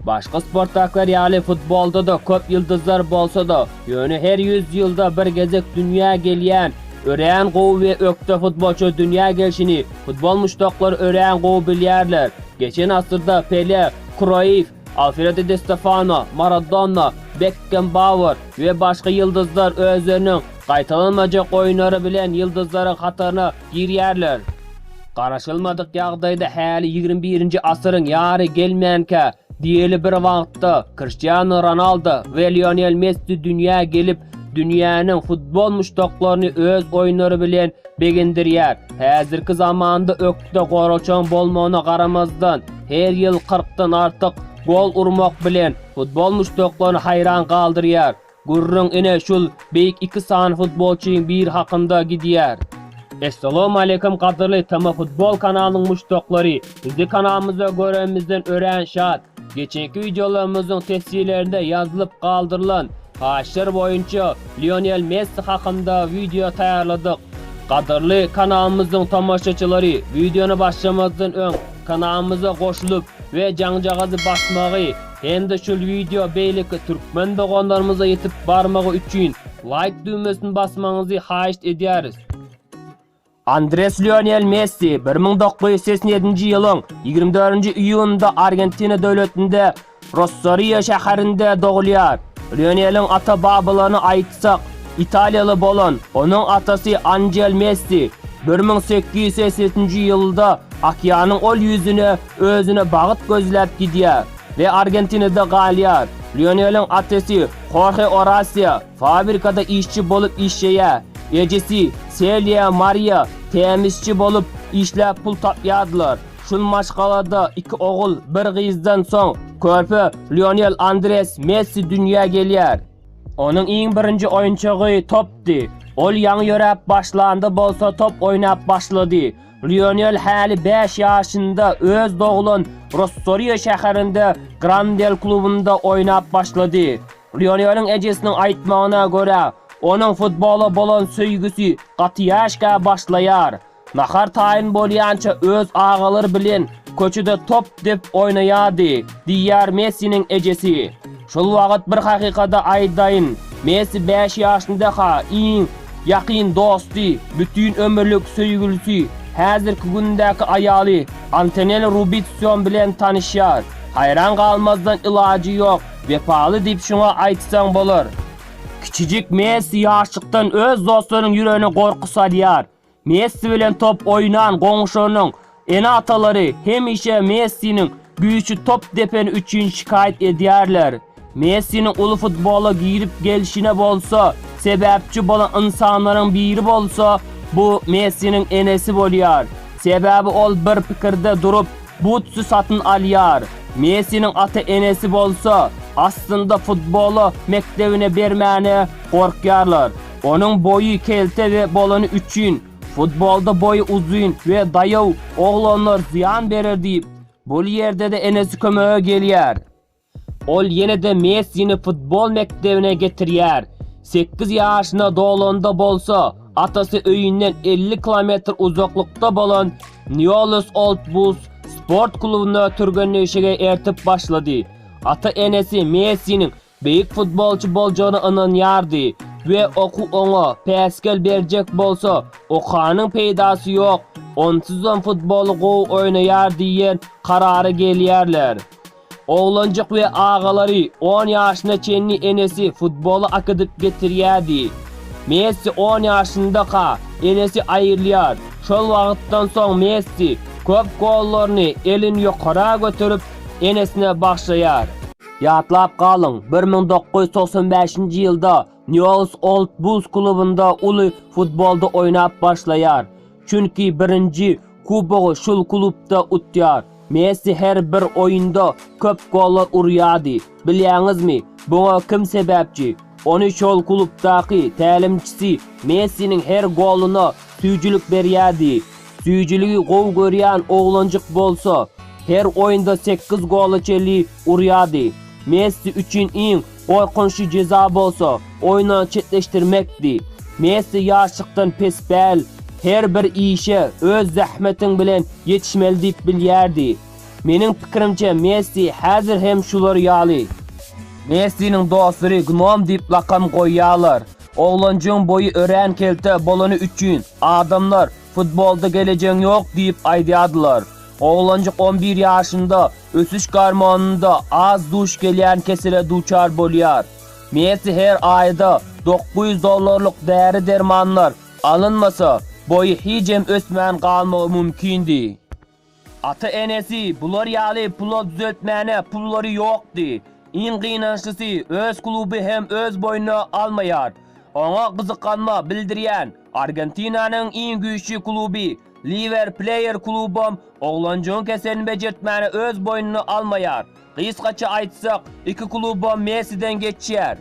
Başga sportdakylar ýaly futbolda-da köp ýyldyzlar bolsa-da, ýöne her 100 ýylda bir gezek dünýä gelýän, örän gowy we ökde futbolçy dünýä gelşini futbol muşdaklary örän gowy bilýärler. Geçen asyrda Pele, Kroýff, Alfredo Di Stefano, Maradona, Bekkenbauer we başga ýyldyzlar özleriniň gaýtalanmajak oýunlary bilen ýyldyzlaryň hataryna girýärler. Garaşylmadyk ýagdaýda häli ýigrimi birinji asyryň ýary gelmänkä, diýeli bir wagtda Kriştianu Ronaldo we Lionel Messi dünýä gelip, dünýäniň futbol muşdaklaryny öz oýunlary bilen begendirýär. Häzirki zamanda Ýurtda goraçaň bolmagyna garamazdan, her ýyl kyrkdan artyk gol urmak bilen, futbol muşdaklaryny haýran galdyrýar. Gürrüň ine şul beýik iki sany futbolçyň biri hakynda gidýär. Essalowmaleýkum gadyrly TMFutbol kanalynyň muşdaklary! Sizi kanalymyzda göremizden örän şat! Geçenki wideolarymyzyň tesjilerinde ýazylyp galdyrylan haýyşlar boýunça Lionel Messi hakynda wideo taýýarladyk. Gadyrly kanalymyzyň tomaşaçylary wideony başlamazdan öň kanalymyza goşulyp we jaňjagazy basmagy hem-de şul wideo beýleki türkmen doganlarymyza ýetip barmagy üçin laýk düwmesini basmagyňyzy haýyşt edýäris. Andres Lionel Messi bir müň dokuz ýüz segsen ýedinji ýylyň ýigrimi dördünji iýunynda Argentina döwletinde Rossario şäherinde dogulýar. Lioneliň ata-babalaryny aýtsak, italiýaly bolan onuň atasy Anžel Messi bir müň sekiz ýüz segsen üçünji ýylda okeanyň ol ýüzüne özüne bagyt gözläp gidýär we Argentinada galýar. Lioneliň atesy Horhe Orasio Fabrikada işçi bolup işleýär. Ejesi, Selýa Mariýa, tämizçi bolup işläp pul tapýardylar. Şul maşgalada iki ogul, bir gyzdan soň, körpe Lionel Andres Messi dünýä gelýär. Onuň iň birinji oýunçygy topdy. Ol ýaňy ýöräp başlanda bolsa top oýnap başlady. Lionel häli bäş ýaşynda öz doglan Rossorio şäherinde Grandel klubynda oýnap başlady. Lioneliň ejesiniň aýtmagyna görä, onuň futbola bolan söýgüsi gaty ýaşka başlaýar. Nahar taýyn bolýança öz agalary bilen köçede top dep oýnaýardy, diýýär Messiniň ejesi. Şol wagt bir hakykady aýdaýyn, Messi bäş ýaşyndaka iň ýakyn dosty, bütin ömürlik söýgülisi, häzirki gündäki aýaly Antonella Rubitsion bilen tanyşýar. Haýran galmazdan ilajy ýok. Wepaly diýip şuňa aýtsaň bolar. Kiçijik Messi ýaşlykdan öz dostlarynyň ýüregine gorky salýar. Messi bilen top oýnan goňşunyň ene-atalary hemişe Messiniň güýçi top depeni üçin şikaýat edýärler. Messiniň uly futbola girip gelşine bolsa sebäpçi bolan ynsanlaryň biri bolsa, bu Messiniň enesi bolýar. Sebäbi ol bir pikirde durup, Butsy satyn alýar. Messiniň ata-enesi bolsa, aslynda futbola mekdebine bermäne gorkýarlar. Onuň boýy kelte we bolany üçin, futbolda boýy uzyn we daýaw oglanlar zyýan berer diýip, bul ýerde-de enesi kömege gelýär. Ol ýene-de Messini futbol mekdebine getirýär. Sekiz ýaşyna dolanda bolsa, atasy öýünden elli kilometr uzaklykda bolan Nýollys Old Bulls sport klubunda türgenleşige ertip başlady. Ata-enesi Messiniň beýik futbolçy boljagyna ynanýardy we okuw oňa päsgel berjek bolsa, okanyň peýdasy ýok, onsuzam futboly gowy oýnaýar diýen karara gelýärler. Oglanjyk we agalary on ýaşyna çenli enesi futbola akydyp getirýärdi. Messi on ýaşyndaka enesi aýrylýar. Şol wagtdan soň Messi köp gollaryny elini ýokara göterip enesine bagşlaýar. Ýatlap galyň, bir müň dokuz ýüz togsan bäşinji ýylda Nýols Old Bulls klubynda uly futbolda oýnap başlaýar. Çünki birinji Kubogy şul klubda utýar. Messi her bir oýunda köp gollar urýardy. Bilýäňizmi, buňa kim sebäpçi? Ony şol klubdaky tälimçisi Messiniň her goluna süýjülik berýärdi. Süýjüligi gowy görýän oglanjyk bolsa, her oýunda sekiz gola çenli urýardy. Messi üçin iň Gorkunçly jeza bolsa, oýundan çetleşdirmekdi. Messi ýaşlykdan pespäl, her bir işe öz zähmetiň bilen ýetişmeli diýip bilýärdi. Meniň pikirimçe, Messi häzir hem şular ýaly. Messiniň dostlary Gnom diýip lakam goýýarlar. Oglanjygyň boýy örän kelte bolany üçin, adamlar Futbolda gelejegiň ýok diýip aýdýardylar. Oglanjyk on bir ýaşynda ösüş gormonynda az duş gelýän kesele duçar bolýar. Messi her aýda dokuz ýüz dollarlyk däri-dermanlar alynmasa, boýy hijem ösmän galmagy mümkindi. Ata-enesi bular ýaly pula düzeltmäne pullary ýokdy. Iň gynançlysy, öz kluby hem öz boýnuna almaýar. Oňa gyzyklanma bildirýän Argentinanyň iň güýçli kluby Liwer Pleýer klubam oglanjygyň keselini bejertmäni öz boýnuna almaýar. Gysgaça aýtsak, iki klubam Messiden geçýär.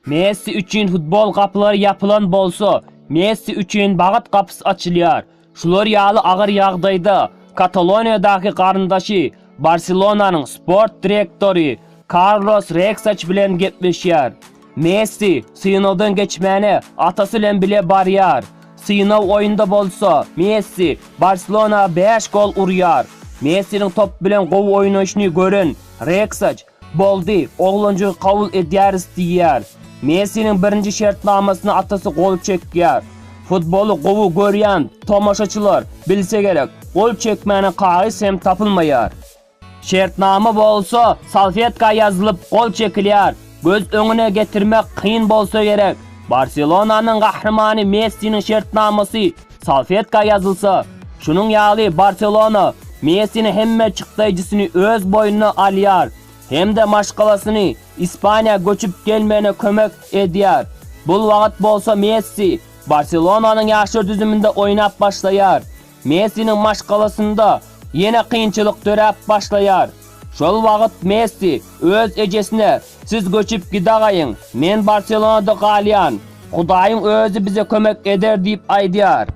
Messi üçin futbol gapylary ýapylan bolsa, Messi üçin bagt gapysy açylýar. Şular ýaly agyr ýagdaýda Kataloniýadaky garyndaşy Barselonanyň sport direktory Karlos Reksaç bilen gepleşýär. Messi synagdan geçmäne atasy bilen bile barýar. Synag oýunda bolsa Messi Barselona bäş gol urýar. Messiniň top bilen gowy oýnaýşyny gören Reksaç Boldy, oglanjygy kabul edýäris diýýär. Messiniň birinji şertnamasyna atasy gol çekýär. Futboly gowy görýän tomaşaçylar bilse gerek, gol çekmäne kagyz hem tapylmaýar. Şertnama bolsa salfetka ýazylyp gol çekilýär. Göz öňüne getirmek kyn bolsa gerek, Barselonanyň gahrymany Messiniň şertnamasy Salfetka ýazylsa, şunuň ýaly Barselona Messini hemme çykdaýjysyny öz boýnuna alýar hem-de maşgalasyny Ispaniýa göçüp gelmegine kömek edýär. Bul wagt bolsa Messi Barselonanyň ýaşlar düzüminde oýnap başlaýar. Messiniň maşgalasynda ýene kynçylyk döräp başlaýar. Şol wagt Messi öz ejesine, Siz göçüp gidagaýyň, men Barselonada galýan. Hudaýyň özi bize kömek eder diýip aýdýar.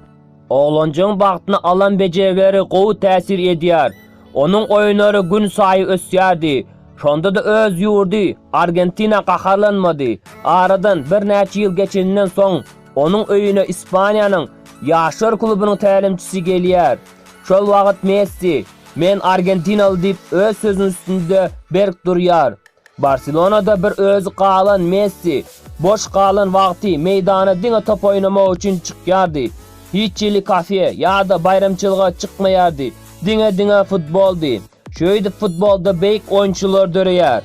Oglanjygyň bagtyna alan bejegleri gowy täsir edýär. Onuň oýunlary günsaýy ösýärdi. Şonda-da öz ýurdy Argentina gaharlanmady. Aradan birnäçe ýyl geçeninden soň, onuň öýüne Ispaniýanyň ýaşlar klubunyň tälimçisi gelýär. Şol wagt Messi, Men argentinaly diýip öz sözüniň üstünde berk durýar. Barselonada bir özi galan Messi, boş galan wagty meýdana diňe top oýnamak üçin çykýardy. Hiç hili kafe ýa-da baýramçylyga çykmaýardy, diňe-diňe futboldy. Şeýdip futbolda beýik oýunçylar döreýär.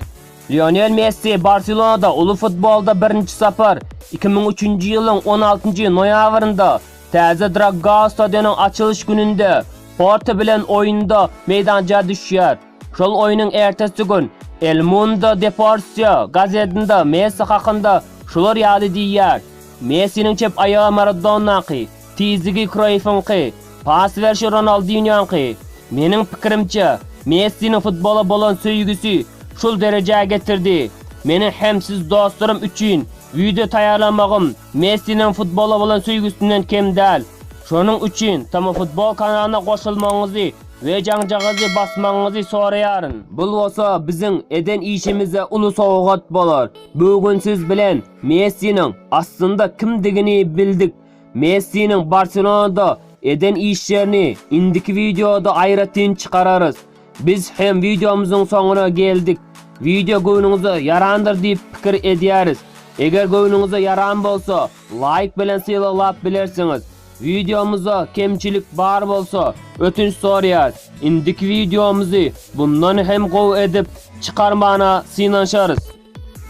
Lionel Messi Barselonada uly futbolda birinji sapar iki müň üçünji ýylyň on altynjy noýabrynda täze Draggao stadionyň açylyş gününde Porto bilen oýunda meýdança düşýär. Şol oýnuň ertesi gün El Mundo Deportio gazetinde Messi hakynda şular ýaly diýýär, Messiniň çep aýagy Maradonnaky, Tizligi Kroýfyňky, pas berşi Ronaldinýoňky. Meniň pikirimçe, Messiniň futbola bolan söýgüsi şul derejä getirdi. Meniň hem siz dostlarym üçin wideo taýýarlamagym Messiniň futbola bolan söýgüsinden kem däl. Şonuň üçin TMFutbol kanalyna goşulmagyňyzy we jaňjagazy basmagyňyzy soraýaryn. Bul bolsa biziň eden işimize uly sowgat bolar. Bu gün siz bilen Messiniň aslynda kimdigini bildik. Messiniň Barselonada eden işlerini indiki wideoda aýratyn çykararys. Biz hem wideomyzyň soňuna geldik. Wideo göwnüňize ýarandyr diýip pikir edýäris. Eger göwnüňize ýaran bolsa, laýk bilen sylaglap bilersiňiz. Wideomyzda kemçilik bar bolsa, ötünç sorýas. Indiki wideomyzy bundan hem gowy edip çykarmana synanyşarys.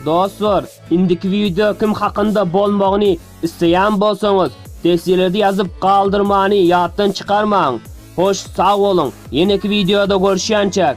Dostlar, indiki wideo kim hakynda bolmagyny isleýän bolsaňyz, dessilede ýazyp galdyrmany ýatdan çykarmaň. Hoş, sag boluň, ýeneki wideoda görüşýänçäk!